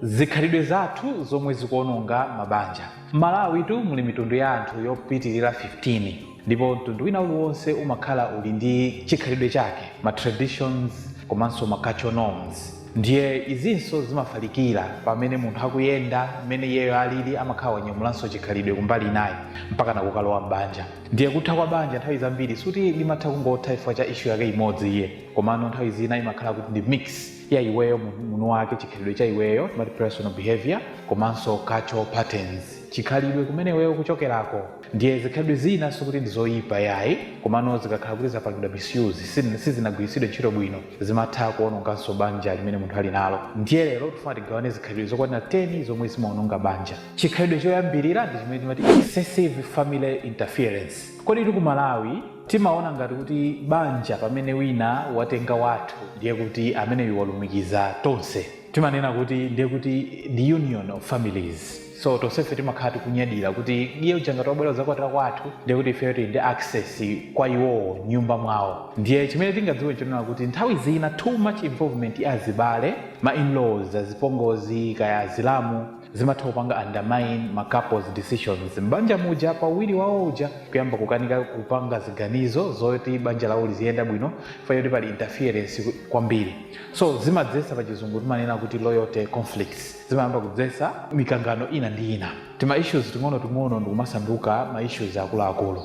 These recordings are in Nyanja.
Zikhalidwe zathu zomwe zikuononga mabanja. M'Malawi tu muli mitundu ya anthu yopitilira 15 ndipo mtundu wina uliwonse umakhala uli ndi chikhalidwe chake, ma traditions komanso ma cultural norms ndiye izinso zimafalikira pamene munthu akuyenda, mmene iyeyo alili amakhala wanyamulanso chikhalidwe kumbali inayi mpakana kukalowa m'banja. Ndiye kutha kwa banja nthawi zambiri suti limatha kungotha chifukwa cha issue yake imodzi iyayi komano nthawi zina imakhala kuti ndi mix. ya iweyo munthu wake chikhalidwe cha iweyo timati personal behavior komanso cultural patterns chikhalidwe kumene iweyo kuchokerako ndiye zikhalidwe zina sikuti ndi zoyipa yayi komano zikakhala kuti zapangidwa misuse sizinagwiritsidwe ntchito bwino zimatha kuononganso banja limene munthu ali nalo ndiye lero tifuna tigawane zikhalidwe zokwanira 10 zomwe zimaononga banja chikhalidwe choyambirira ndi chimene timati excessive family interference kodi ife ku malawi Timaona ngati kuti banja pamene wina watenga wathu ndiye kuti ameneyu walumikiza tonse. Timanena kuti ndiye kuti the union of families. So tonsefe timakhala tikunyadira kuti iye uja ngati wabwera kudzakwatira kwathu ndiye kuti ifeyo tili ndi access kwa iwowo m'nyumba mwawo. Ndiye chimene tingadziwe n'chonena kuti nthawi zina too much involvement ya azibale, ma in-laws, azipongozi, kaya azilamu, zimatha kupanga undermine ma couples decisions m'banja muja pa uwiri wawo uja kuyamba kukanika kupanga ziganizo zoti banja lawo liziyenda bwino chifukwa choti pali interference kwambiri so zimadzesa pa chizungu timanena kuti loyalty conflicts zimayamba kudzesa mikangano ina ndi ina tima issues ting'onoting'ono ndikumasanduka ma issues akuluakulu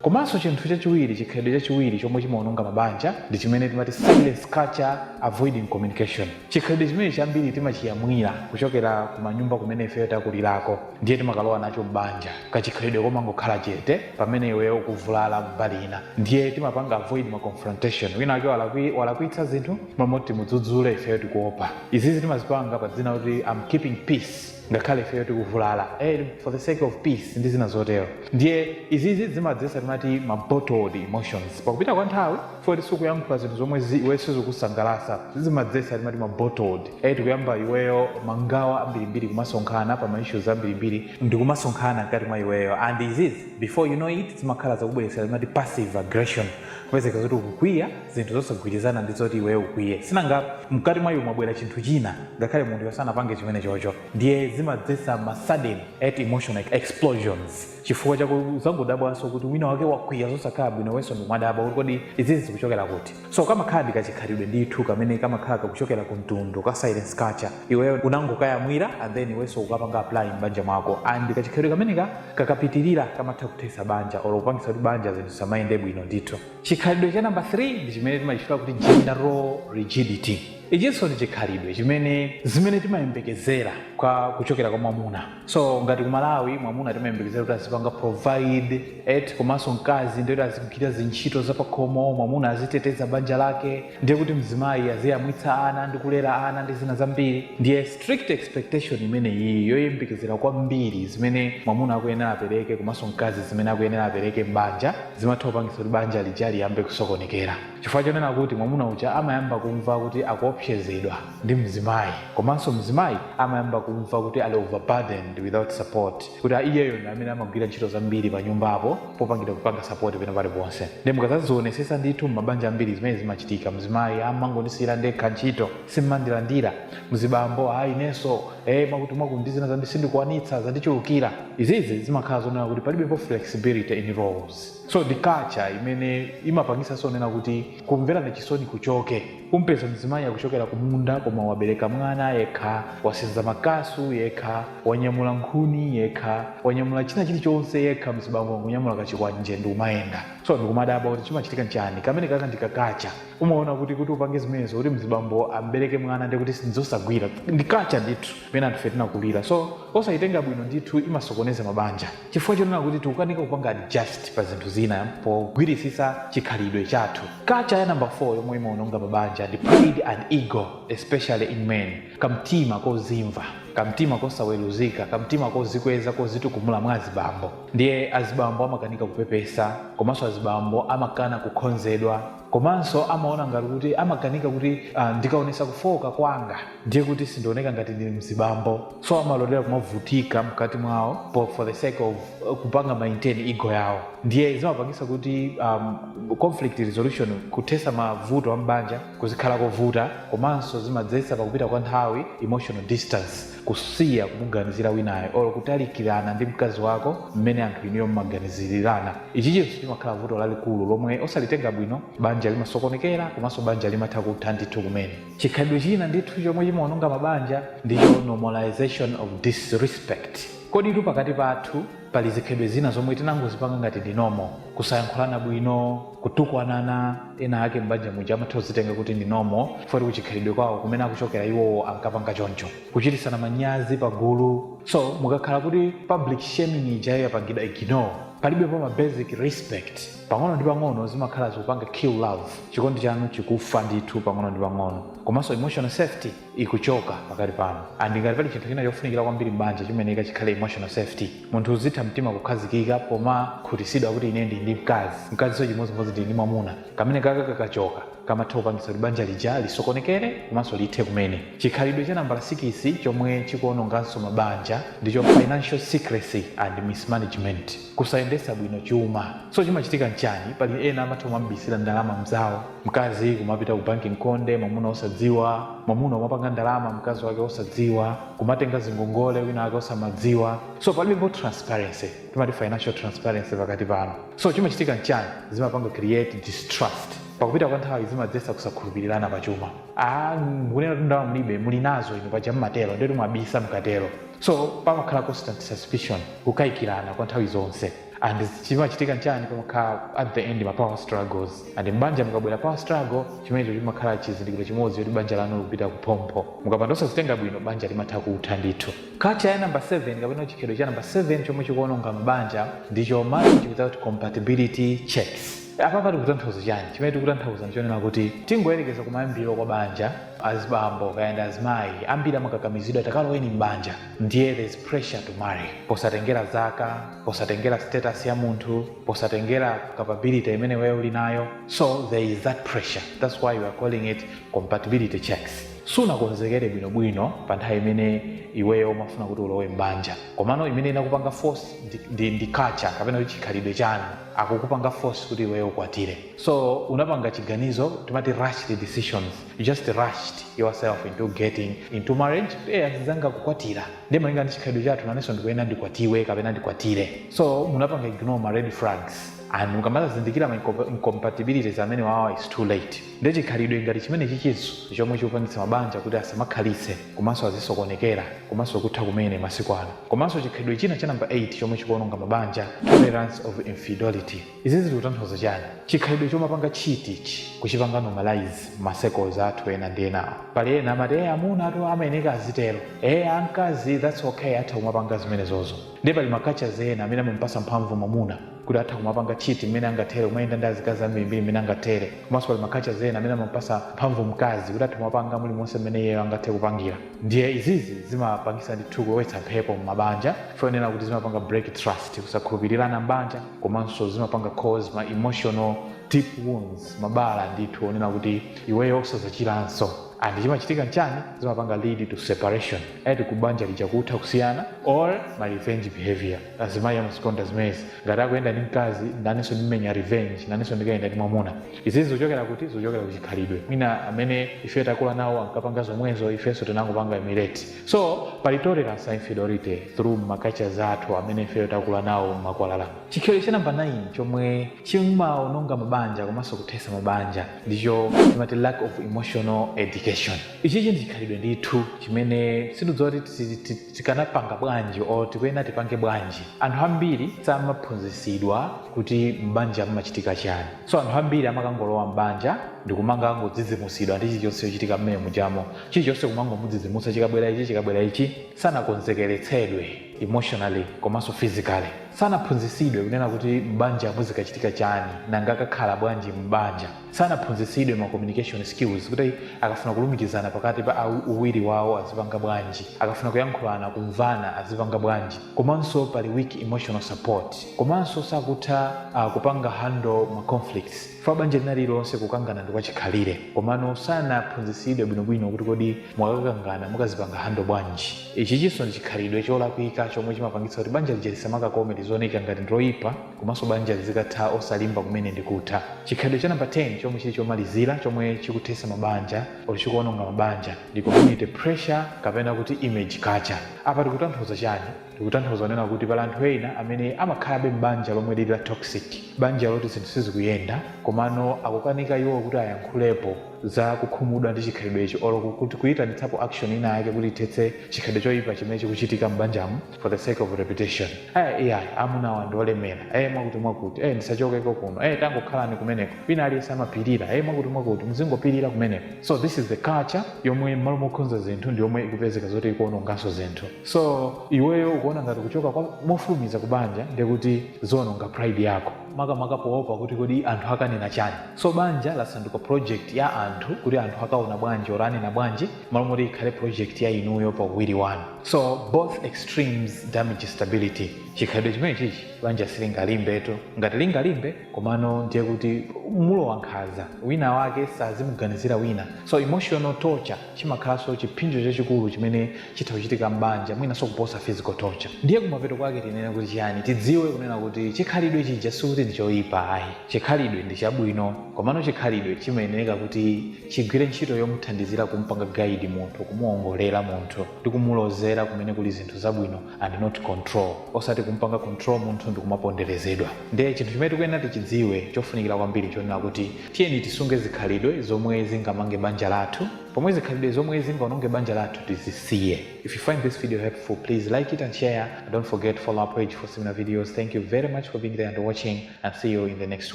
komanso chinthu chachiwiri chikhalidwe chachiwiri chomwe chimaononga mabanja ndi chimene timati silence culture avoiding communication chikhalidwe chimene chambiri timachiyamwira kuchokera kumanyumba kumene ifeyo takulirako ndiye timakalowa nacho m'banja kachikhalidwe komangokhala chete pamene iweyo ukuvulala mbali ina ndiye timapanga avoid ma confrontation wina wake walakwitsa zinthu m'malo moti timudzudzule ifeyo tikuopa izizi timazipanga pa dzina kuti I'm keeping peace ngakhale ifeyo tikuvulala eh, for the sake of peace ndi zina zotero ndiye izizi zimadzesa timati ma bottled emotions pakupita kwa nthawi chifukwa choti sukuyankhula zinthu zomwe iwe sizikusangalasa zimadzesa timati ma bottled eh, tikuyamba iweyo mangawa ambirimbiri kumasonkhana pa ma issues ambirimbiri ndikumasonkhana mkati mwa iweyo and izizi before you know it zimakhala zakubweresera timati passive aggression kupezeka zoti ukukwiya zinthu zosagwirizana ndi zoti iweyo ukwiye sinanga mkati mwa iwe mwabwera chinthu china ngakhale munthuyo sanapange chimenechocho ndiye zimadzetsa ma sudden emotional explosions chifukwa chake uzangodabwanso kuti wina wake wakwiya zosakhala bwino iwenso ndikumadabwa kuti kodi izizi zikuchokera kuti so kamakhala ndi kachikhalidwe ndithu kamene kamakhala kakuchokera ku mtundu ka silence culture iweyo unangokayamwira and then iwenso ukapanga apply m'banja mwako and kachikhalidwe kameneka kakapitirira kamatha kuthetsa banja or kupangitsa kuti banja zinthu zisamayende bwino ndithu Chikhalidwe cha namba 3 ndi chimene timachitchula kuti gender role rigidity. Ichinso ndi chikhalidwe chimene zimene timayembekezera kwa kuchokera kwa mwamuna. So ngati ku Malawi mwamuna timayembekezera kuti azipanga provide eti komanso mkazi ndiye kuti azigwira zintchito zapakhomo, mwamuna aziteteza banja lake, ndiye kuti mzimayi aziyamwitsa ana ndi kulera ana ndi zina zambiri ndiye strict expectation imene iyi yoyembekezera kwambiri zimene mwamuna akuyenera apereke komanso mkazi zimene akuyenera apereke m'banja zimatha kupangitsa kuti banja lija liyambe kusokonekera chifukwa chonena kuti mwamuna uja amayamba kumva kuti akuopsezedwa ndi mzimayi komanso mzimayi amayamba kumva kuti ali overburdened without support kuti iyeyo ndi amene amagwira ntchito zambiri pa nyumbapo popanda kupanga sapoti pena paliponse ndiye mukazazionesesa ndithu m'mabanja ambiri zimene zimachitika mzimayi amangondisiyira ndekha ntchito simmandilandira mzibambo ayi inenso e mwakuti mwakuti ndi zina zambiri sindikwanitsa zandichulukira izizi zimakhala zonena kuti palibepo flexibility in roles so ndi culture imene imapangisa zonena kuti Kumverana chisoni kuchoke. Umpeza mzimayi akuchokera kumunda koma wabereka mwana yekha, wasenza makasu yekha, wanyamula nkhuni yekha, wanyamula china chili chonse yekha mzibambo wangonyamula kachikwanje ndikumayenda. So ndikumadabwa kuti chimachitika nchani? Kamenekaka ndi ka kacha. Umaona kuti kuti upange zimenezo kuti mzibambo ambereke mwana ndiye kuti nzosagwira. Ndi kacha ndithu imene anthufe tinakulira. So osayitenga bwino ndithu imasokoneza mabanja. chifukwa chonena kuti tikukanika kupanga adjust pa zinthu zina pogwirisisa chikhalidwe chathu kacha ya namba 4 yomwe imaononga mabanja ndi pride and ego especially in men kamtima kozimva kamtima kosaweruzika kamtima kozikweza kozitukumula mwa azibambo ndiye azibambo amakanika kupepesa komanso azibambo amakana kukonzedwa komanso amaona ngati kuti amakanika kuti uh, ndikaonesa kufooka kwanga ndiye kuti sindioneka ngati ndi mzibambo so amalolera kumavutika mkati mwawo po- for the sake of uh, kupanga maintain ego yawo ndiye zimapangisa kuti um, conflict resolution kuthesa mavuto a mbanja kuzikhala kovuta komanso zimadzetsa pakupita kwa nthawi emotional distance kusiya kumuganizira winayo or kutalikirana ndi mkazi wako mmene anthu inuyo mmaganizirirana ichichinso chimakhala vuto lalikulu lomwe osalitenga bwino banja limasokonekera komanso banja limatha kutha ndithu kumene Chikhalidwe china ndithu chomwe chimaononga mabanja ndicho normalization of disrespect. Koditu pakati pathu pali zikhalidwe zina zomwe tinangozipanga ngati ndi normal. Kusayankhulana bwino, kutukwanana, ena ake m'banja muja amatha kuzitenga kuti ndi normal chifukwa choti kuchikhalidwe kwawo kumene akuchokera iwowo ankapanga choncho. Kuchititsana manyazi pagulu. So, mukakhala kuti public shaming ijayo yapangidwa ignore, palibepo ma basic respect. Pang'ono ndi pang'ono zimakhala zikupanga kill love, chikondi chanu chikufa ndithu pang'ono ndi pang'ono komanso emotional safety ikuchoka pakati panu and ngati pali chinthu china chofunikila kwambiri m'banja chimeneka chikhale emotional safety munthu uziti mtima kukhazikika pomakhutisidwa kuti ine ndili ndi mkazi, mkazinso chimodzimodzi ndili ndi mwamuna kamenekaka kakachoka kamatha kupangitsa kuti banja lija lisokonekele komanso lithe kumene. Chikhalidwe cha nambala sikisi chomwe chikuononganso mabanja ndicho financial secrecy and mismanagement. kusayendesa bwino chuma so chimachitika nchani pali ena amatha kumabisira ndalama mzawo mkazi kumapita ku banki nkhonde mwamuna osadziwa mwamuna kumapanga ndalama mkazi wake osadziwa kumatenga zingongole wina wake osamadziwa so palibepo transparency timati financial transparency pakati panu so chimachitika nchani zimapanga create distrust pakupita kwa nthawi zimadzesa kusakhulupirirana pa chuma ah mukunena kuti ndalama mulibe muli nazo inu paja mmatero nde kuti mwabisa mkatero So pamakhala constant suspicion, kukaikirana kwa nthawi zonse and chimachitika nchani pamakhala at the end ma power struggles and m'banja mukabwera power struggle chimenecho chimakhala chizindikiro chimodzi choti banja lanu likupita kuphompho. Mukapanda osazitenga bwino banja limatha kutha ndithu. Culture ya number 7 kapena chikhalidwe cha number 7 chomwe chikuononga mabanja ndicho marriage without compatibility checks. Apapa tikutanthauza chani? Chimene tikutanthauza ndichonena kuti tingoyerekeza kumayambiriro kwa banja, azibambo kaya ndi azimayi ambiri amakakamizidwa takaloweni m'banja ndiye there's pressure to marry posatengera zaka posatengera status ya munthu posatengera capability imene iweyo uli nayo so there is that pressure that's why we are calling it compatibility checks sunakonzekere bwinobwino pa nthawi imene iweyo umafuna kuti ulowe m'banja komano imene inakupanga force ndi, ndi, ndi culture kapena kuti chikhalidwe chanu akukupanga force kuti iweyo ukwatire so unapanga chiganizo timati rushed decisions you just rushed yourself into getting into marriage eh azinzanga akukwatira ndi malinga ndi chikhalidwe chathu nanenso ndikuyenera ndikwatiwe kapena ndikwatire so munapanga ignore ma red flags and mukamazindikira ma incom- incompatibilities amenewawa it's too late ndi chikhalidwe ngati chimenechichinso chomwe chikupangitsa mabanja kuti asamakhalitse komanso azisokonekera komanso kutha kumene masiku ano komanso chikhalidwe china cha namba 8 chomwe chikuononga mabanja tolerance of infidelity Izi zikutanthauza chani? Chikhalidwe chomapanga cheat ichi, kuchipanga normalize mma circles athu ena ndi enawo. Pali ena amati eh amunatu amayeneka azitero, eh akazi that's ok atha kumapanga zimenezozo. Nde pali ma cultures ena amene amamupasa mphamvu mwamuna kuti atha kumapanga cheat mmene angathere, kumayenda ndi azikazi ambirimbiri mmene angathere, komanso pali ma cultures ena amene amamupasa mphamvu mkazi kuti atha kumapanga mulimonse mmene iyeyo angathe kupangira. Ndiye izizi zimapangisa ndithu kulowetsa mphepo mmabanja, chonena kuti zimapanga break trust, kusakhulupilirana m'banja. komanso zimapanga cause ma emotional deep wounds mabala ndithu onena kuti iweyo osazachiranso and chimachitika nchani zimapanga lead to separation eti kubanja lija kutha kusiyana or ma revenge behavior azimayi amazikonda zimezi ngati akuyenda ndi mkazi nanenso ndimenya revenge nanenso ndikayenda ndi mwamuna izizi zochokera kuti zochokera kuchikhalidwe mwina amene ife takula nawo ankapanga zomwezo ifenso tinangopanga emulate So pali tolerance infidelity through ma cultures athu amene ifeyo takula nawo mmakwalala. Chikhalidwe cha namba 9 chomwe chimaononga mabanja komanso kuthesa mabanja ndicho timati lack of emotional education. Ichichi ndi chikhalidwe ndithu chimene sindikudziwa kuti tikanapanga bwanji or tikuyenera tipange bwanji. Anthu ambiri samaphunzisidwa kuti mbanja mmachitika chani. So anthu ambiri amakangolowa mbanja ndikumakangodzidzimusidwa ndi chilichonse chochitika mmene mujamo. chilichonse kumangomudzidzimutsa chikabwera ichi chikabwera ichi sanakonzekeretsedwe emotionally komanso physically sanaphunzitsidwe kunena kuti m'banja muzikachitika chani nanga akakhale bwanji m'banja sanaphunzitsidwe ma communication skills kuti akafuna kulumikizana pakati pa awi- uwiri wawo azipanga bwanji akafuna kuyankhulana kumvana azipanga bwanji komanso pali weak emotional support komanso sakutha uh, kupanga handle ma conflicts Chifukwa banja lina lililonse kukangana ndi kwachikhalire. Komano sanaphunzitsidwe bwinobwino kuti kodi mukakangana mukazipanga handle bwanji. Ichichinso ndi chikhalidwe cholakwika chomwe chimapangitsa kuti banja lija lisamakakome lizioneka ngati ndi loyipa komanso banja lizikatha osalimba kumene ndi kutha. Chikhalidwe cha number 10 chomwe chili chomalizira chomwe chikuthetsa mabanja or chikuononga mabanja ndi community pressure kapena kuti image culture. Apa tikutanthauza chani? Tikutanthauza kunena kuti pali anthu ena amene amakhalabe m'banja lomwe lili la toxic, banja loti zinthu sizikuyenda komano akukanika iwowo kuti ayankhulepo za kukhumudwa ndi chikhalidwecho or kuyitanitsapo action ina yake kuti ithetse chikhalidwe choipa chimene chikuchitika m'banjamo for the sake of reputation, eh iyayi amunawa ndi olemera, eh mwakuti mwakuti, eh ndisachokeko kuno, eh tangokhalani kumeneko, wina aliyense amapirira, eh mwakuti mwakuti, muzingopirira kumeneko. So this is the culture yomwe m'malo mokonza zinthu ndiyomwe ikupezeka zoti ikuononganso zinthu. so iweyo ukuona ngati kuchoka mofulumiza kubanja ndekuti ziononga pride yako makamaka poopa kuti kodi anthu akanena chani so banja lasanduka project ya anthu kuti anthu akaona bwanji or anena bwanji malo moti ikhale project ya inuyo pa uwiri wanu so both extremes damage stability chikhalidwe chimene chichi banja silingalimbetu ngati lingalimbe komano ndiye kuti mulowa nkhanza wina wake sazimuganizira wina so emotional torture chimakhalanso chipsinjo chachikulu chimene chitha kuchitika m'banja mwinanso kuposa physical torture. Ndiye kumapeto kwake tinene kuti chiyani? Tidziwe kunena kuti chikhalidwe chija sikuti ndi choipa ayi. Chikhalidwe ndi chabwino. Komano chikhalidwe chimayenereka kuti chigwire ntchito yomuthandizira kumpanga guide munthu, kumuongolera munthu ndi kumulozera kumene kuli zinthu zabwino and not control osati kumpanga control munthu ndikumaponderezedwa nde chinthu chimene tikuyenera tichidziwe chofunikira kwambiri nchonena kuti tiyeni tisunge zikhalidwe zomwe zingamange banja lathu pomwe zikhalidwe zomwe zingaononge banja lathu tizisiye if you find this video helpful please like it and share and don't forget to follow our page for similar videos thank you very much for being there and watching and see you in the next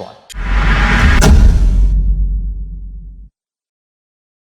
one